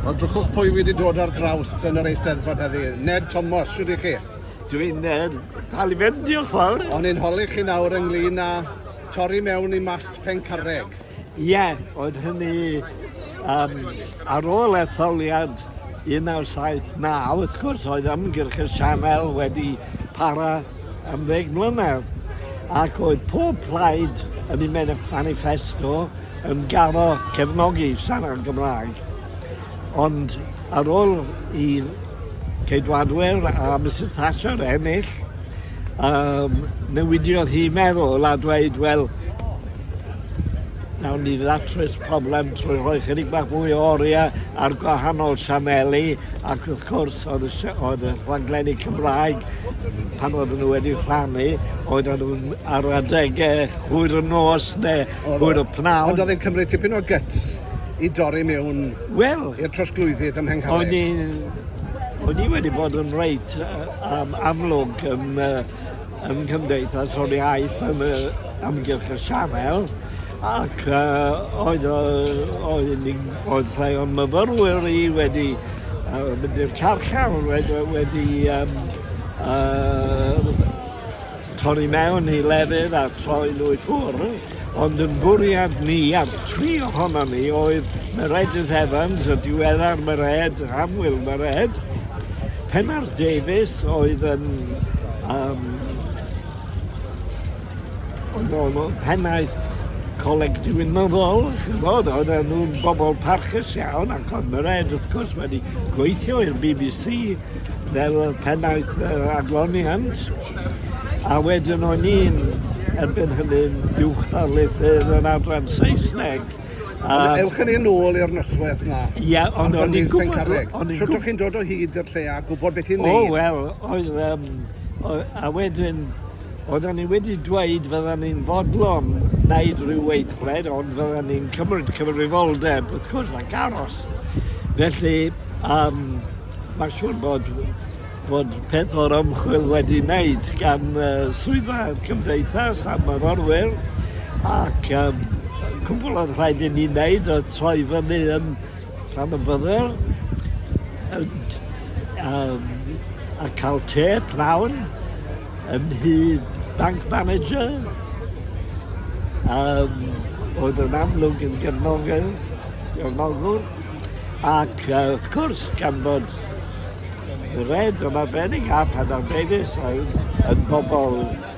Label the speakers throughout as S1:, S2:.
S1: Wel, drychwch pwy wedi dod ar draws yn yr eisteddfod heddi. Ned Thomas, siwr i chi? Dwi'n Ned,
S2: cael i fynd, diolch fawr. O'n i'n holi chi nawr
S1: ynglyn â torri mewn i mast Pencarreg. Ie, yeah,
S2: oedd hynny um, ar ôl etholiad 1979, wrth gwrs, oedd ymgyrch y sianel wedi para am ddeg mlynedd ac oedd pob plaid yn ei manifesto yn garo cefnogi siarad Gymraeg, ond ar ôl i Ceidwadwyr a Misus Thatcher ennill, um, newidiodd hi meddwl a dweud, wel, nawn ni ddatrys problem trwy rhoi chydig bach mwy o oriau ar gwahanol sianeli ac wrth gwrs oedd y, oedd y rhaglenni Cymraeg pan oedden nhw wedi rhannu oedden nhw'n ar adegau hwyr y nos neu Oedd o. Oedd o pnawn. Ond oedd e'n cymryd tipyn o
S1: gyts i dorri mewn well, i'r trosglwyddydd ym Mhengharreg. O'n i'n... O'n
S2: i wedi bod yn reit um, amlwg ym, uh, ym Nghymdeithas o'r Iaith am y amgylch y sianel ac uh, oedd, uh, oedd, oedd rhai o'n myfyrwyr i wedi uh, mynd i'r carchar wedi, wedi um, uh, torri mewn i lefydd a throi nhw i ffwrdd, ond yn bwriad ni a'r tri ohonon ni oedd Meredydd Evans, y diweddar Mered, Annwyl Mered, Pennar Davies oedd yn um, oedd o'n pennaeth Coleg Diwinyddol, chymod, oedd nhw'n bobl parchus iawn, ac oedd Mered wrth gwrs wedi gweithio i'r bbc fel y pennaeth yr adloniant, a wedyn o'n i'n erbyn hynny'n uwch ddarlithydd yn adran Saesneg. A... Ewch
S1: yn un ôl i'r noswaith na. Ie, yeah, ond o'n i'n
S2: gwybod... Sut o'ch chi'n dod o
S1: hyd i'r lle a gwybod beth i'n neud? O, wel, oedd...
S2: Um, a wedyn, oedden ni wedi dweud fydden ni'n fodlon wneud rhyw weithred, ond fydden ni'n cymryd cyfrifoldeb, wrth gwrs, ac aros. Felly, um, Mae'n siŵr bod bod peth o'r ymchwil wedi wneud gan uh, swyddfa cymdeithas a myrorwyr ac um, cwbl oedd rhaid i ni wneud oedd troi fyny yn rhan y byddel um, a cael te prawn yn hyd bank manager um, oedd yn amlwg yn gefnogol gefnogol Ac uh, wrth gwrs, gan bod Red yn arbennig a Padar Davies oedd yn bobl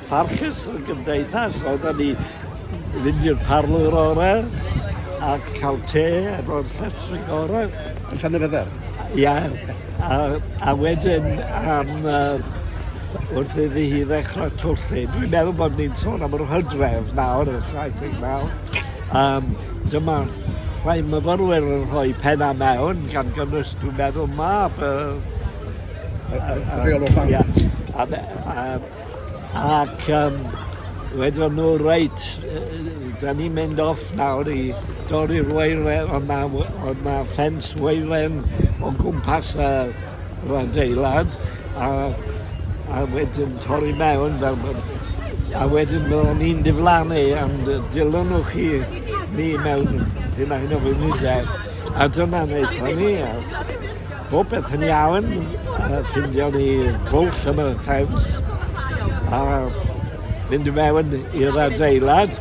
S2: parchus yn gymdeithas, oedden ni fynd i'r parlwr orau a cael te efo'r llestri gorau. Yn llan y fydder?
S1: Ia, a,
S2: a wedyn am uh, wrth iddi hi ddechrau twllu. Dwi'n meddwl bod ni'n sôn am yr hydref nawr, y 79. Um, dyma Mae myfyrwyr yn rhoi pennau mewn, gan gynnwys, dwi'n meddwl, mab y... Y, y, y
S1: rheolwr banc. Ia. A, a, a,
S2: ac um, wedyn nhw, reit, da ni'n mynd off nawr i dorri'r weilen, ond mae ma ffens weilen o gwmpas y yr adeilad a a wedyn torri mewn fel ma' a wedyn byddan ni'n diflannu am dy- dilynwch chi ni mewn hunain o wynidau a dyna naethon ni a bob peth yn iawn a ffindio ni bwlch yn y ffens a fynd i mewn i'r adeilad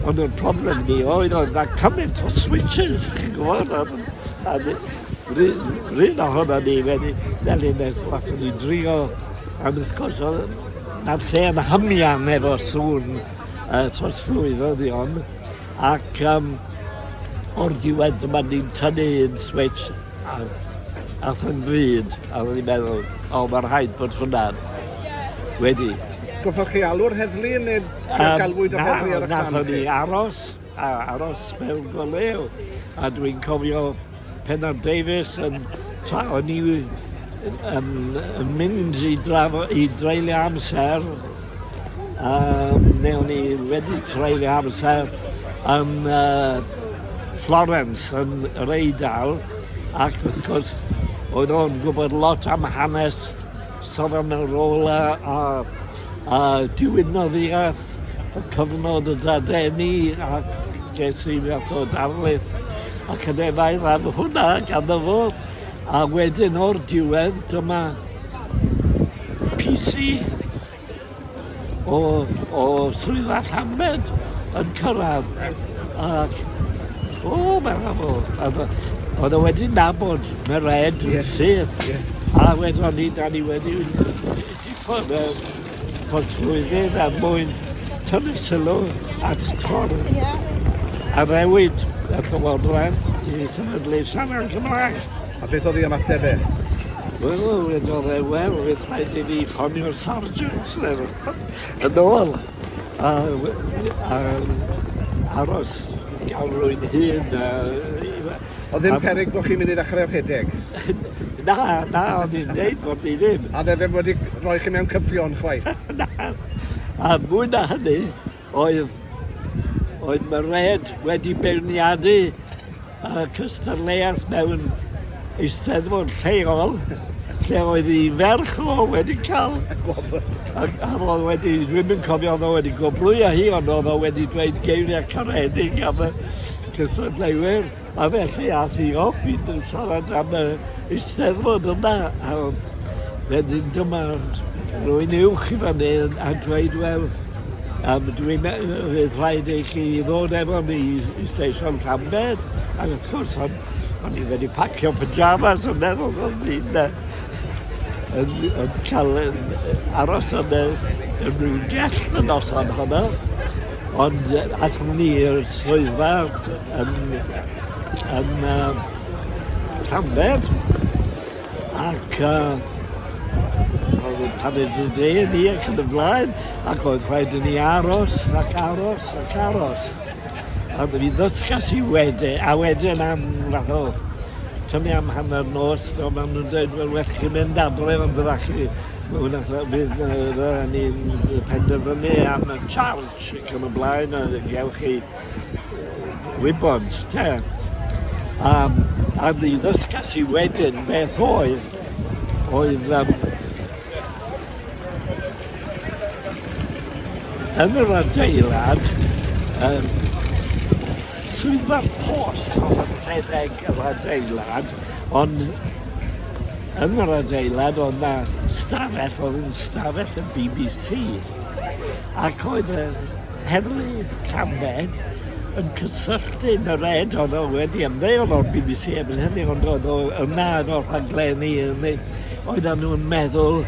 S2: ond y problem ni oedd oedd 'na cymaint o switsys chi'n gwbod a a ni Rhyn o hwnna ni wedi delio nes laff wedi drio am wrth gwrs na'r lle yn hymian efo sŵn uh, trosglwyddion ac um, o'r diwedd dyma ni'n tynnu yn switch a ath yn fyd a oedd ni'n meddwl o mae rhaid bod hwnna wedi. Goffwch chi
S1: alw'r heddlu neu um, galwyd yr heddlu ar y chan chi? Na, aros
S2: a aros mewn goleu a dwi'n cofio Pennar Davies yn tra o'n i yn, yn mynd i, drafo, i dreulio amser um, neu o'n i wedi treulio amser yn uh, Florence yn yr Eidal ac wrth gwrs oedd o'n gwybod lot am hanes Savonarola a a diwinnodd i at y cyfnod y dadeni ac ges i fath o darlith academaidd am hwnna ganddo fo a wedyn o'r diwedd dyma PC o, o swyddfa Llanbed yn cyrraedd ac o, mae'n afo. Oedd o wedi nabod mae red yn yeah. syth. Yeah. A wedyn ni, da ni wedi diffodd y portflwyddyn a mwyn tynnu sylw at tor yeah. a rewyd y llywodraeth i sefydlu siarad Cymraeg. A beth oedd ei
S1: ymateb e? Wel,
S2: wedodd e, wel, oedd rhaid i ni ffonio'r sargeant neu yn ôl. A, a, aros gael rwy'n hyn. A, Oedd
S1: ddim perig bod chi'n mynd i ddechrau rhedeg? Na,
S2: na, o'n i'n dweud bod ni ddim. A dde ddim wedi
S1: rhoi chi mewn cyffion chwaith? na.
S2: A mwy na hynny, Oedd, oedd Mairéad wedi beirniadu y cystadleuaeth mewn eisteddfod lleol lle oedd ei ferch o wedi cael gwobr. Ac a oedd wedi, dwi'n mynd cofio oedd o wedi gwobrwyo hi, ond oedd o wedi dweud geiriau caredig am y cystadleuwyr. A felly ath hi off i siarad am y Eisteddfod yma, a wedyn dyma rwy'n uwch i fan hyn a dweud, wel, um, dwi'n meddwl rhaid i chi ddod efo ni i Stesion Llambed, ac wrth gwrs, o'n, on i wedi pacio pyjamas yn meddwl o'n i'n yn, yn cael yn, aros yn, yn rhyw gell y noson honno, ond athyn ni i'r swyddfa yn, yn uh, Llanbed ac uh, pan oedd y dre ni ac yn y blaen, ac oedd rhaid i ni aros ac aros ac aros. A mi ddysgas i wedi, a wedyn am fath o tynnu am hanner nos, do, maen nhw'n dweud, wel, well chi mynd adref am fydda chi. Mae hwnna fydd ni'n penderfynu am y charge ac yn y blaen, a gewch chi wybod, te. Um, a ni ddysgas i wedyn beth oedd, oedd um, yn yr adeilad um, swyddfa'r post oedd rhedeg yr adeilad, ond yn yr adeilad oedd na stafell oedd yn stafell y BBC ac oedd y Heddlu Llambed yn cysylltu yn yr ed oedd o wedi ymddeol o'r bbc erbyn hynny ond oedd o yna ar ol rhaglenni yn ei oeddan nhw'n meddwl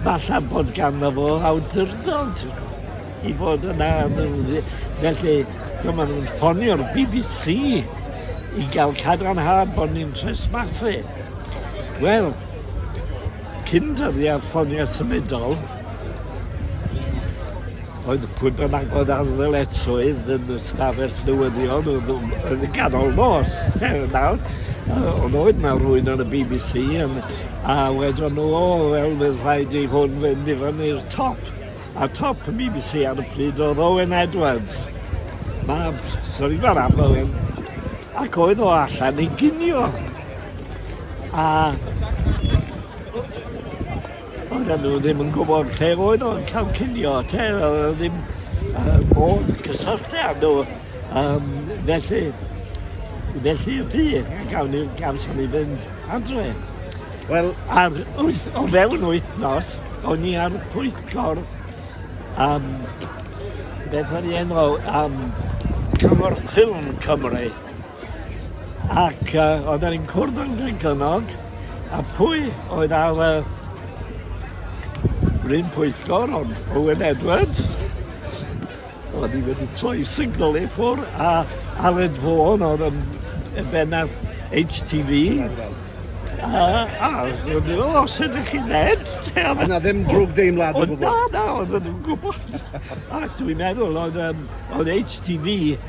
S2: falla bod ganddo fo awdurdod i fod yna felly dyma nhw'n ffonio'r bbc i gael cadarnhad bod ni'n tresmasu. Wel, cyn dyddiau ffonio symudol Oedd pwy bynnag oedd ar ddyletswydd yn y stafell newyddion yn y ganol nos, er nawr, ond oedd na rwy'n yn y BBC yn, a wedon nhw, o, wel, bydd rhaid i hwn fynd i fyny'r top. A top y BBC ar y pryd oedd Owen Edwards, mab Sir Ivan am Owen, ac oedd o allan i ginio. A Oedden nhw ddim yn gwybod lle oedd o'n cael cinio te, oedd e ddim uh, bod cysylltu â nhw. Um, felly, felly y pi, gawn ni gawson ni fynd adre. Wel...
S1: Ar wyth, o
S2: fewn wythnos, o'n i ar y pwyllgor um, beth o'n i enw, um, Cyngor Ffilm Cymru. Ac uh, oedd e'n cwrdd yn Gregynnog, a pwy oedd ar y uh, rhywun pwyllgor, ond Owen Edwards, oedd hi wedi troi signal i ffwr, a Aled Fawn oedd yn y bennaf HTV, a, a oedd nhw, o, sydd ych chi'n ned? A na ddim
S1: drwg deimlad o gwbl. Na, na, oedd nhw'n
S2: gwybod. a dwi'n meddwl, oedd, um, oedd HTV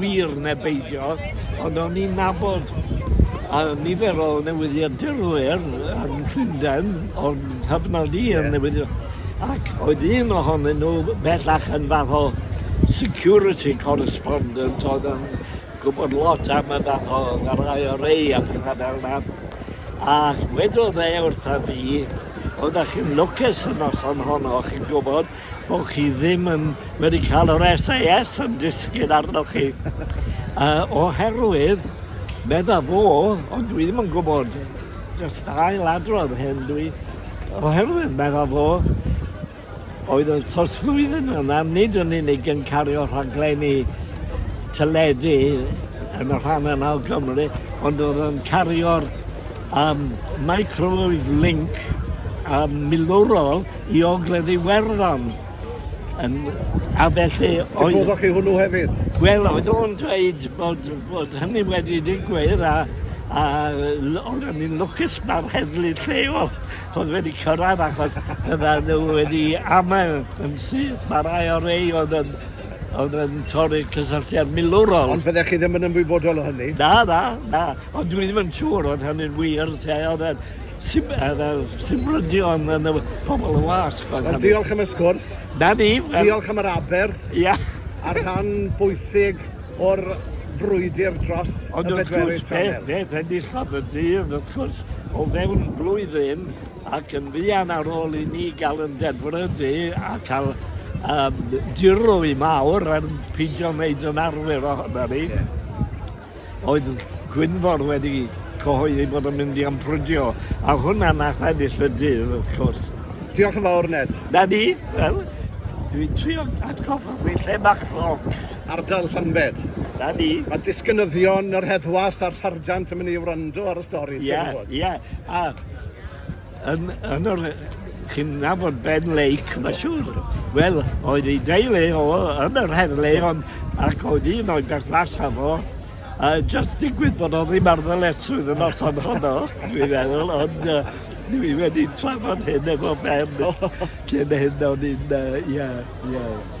S2: wir neu beidio, ond o'n i'n nabod a nifer o newyddiadurwyr yn Llundain, o'n cyfnod i yn newyddion, ac oedd un ohonyn nhw bellach yn fath o security correspondent oedd yn gwybod lot am y fath o yr IRA a pethau fel yna. A wedodd e wrtha fi, oeddech chi'n lwcus y noson honno, chi'n gwybod, bod chi ddim yn wedi cael yr SAS yn disgyn arnoch chi. uh, oherwydd, medda fo, ond dwi ddim yn gwybod, just ail adrodd hyn dwi, oherwydd medda fo, oedd y tosflwyddyn yna nid yn unig yn cario rhaglenni teledu yn y rhan yna o Gymru, ond oedd yn cario'r um, microwave link um, milwrol I Ogledd Iwerddon yn a felly oedd... Dyfodoch chi hwnnw
S1: hefyd? Wel, oedd o'n
S2: dweud bod, bod hynny wedi digwydd a, a oedd yn un lwcus mae'r heddlu lleol oedd wedi cyrraedd achos yna nhw wedi amau yn syth. Mae rai o rei oedd yn, oedd yn torri cysylltiad milwrol. Ond byddech chi ddim yn
S1: ymwybodol o hynny? Na, na, na.
S2: Ond dwi ddim yn siŵr oedd hynny'n wir te. Oedd Sib, yr, yr, sibrydion yn y pobl y wasg. Wel, diolch am y sgwrs.
S1: Na ni. Diolch
S2: am yr aberth.
S1: Ia. Yeah. a
S2: rhan
S1: bwysig o'r frwydr dros Ond y bedwerydd sianel. Ond wrth gwrs, enillodd y
S2: dydd, wrth gwrs, o fewn blwyddyn ac yn fuan ar ôl i ni gael yn dedfrydu a cael um, dirwy mawr yn pidio wneud yn arwyr ohono ni. Yeah. oedd Gwynfor wedi cyhoeddi bod yn mynd i ymffrydio, a hwnna nath ennill y dydd, wrth cwrs. Diolch yn fawr,
S1: Ned. Na ni, wel,
S2: dwi'n trio atgoffa chi lle mae'ch lloc. Ardal Llanbed.
S1: Na ni. Mae
S2: disgynyddion
S1: yr heddwas a'r sarjant yn mynd i wrando ar y stori. Ie, ie.
S2: A Yn, yn yr, chi'n nabod Ben Lake, mae siŵr. Wel, oedd ei deulu o yn yr heddlu, yes. ond ac oedd un o'i berthnasau fo, a uh, just digwydd bod o ddim ar ddyletswydd yn os o'n honno, dwi'n meddwl, ond uh, dwi wedi trafod hyn efo Ben cyn hyn o'n i'n, uh, yeah, yeah.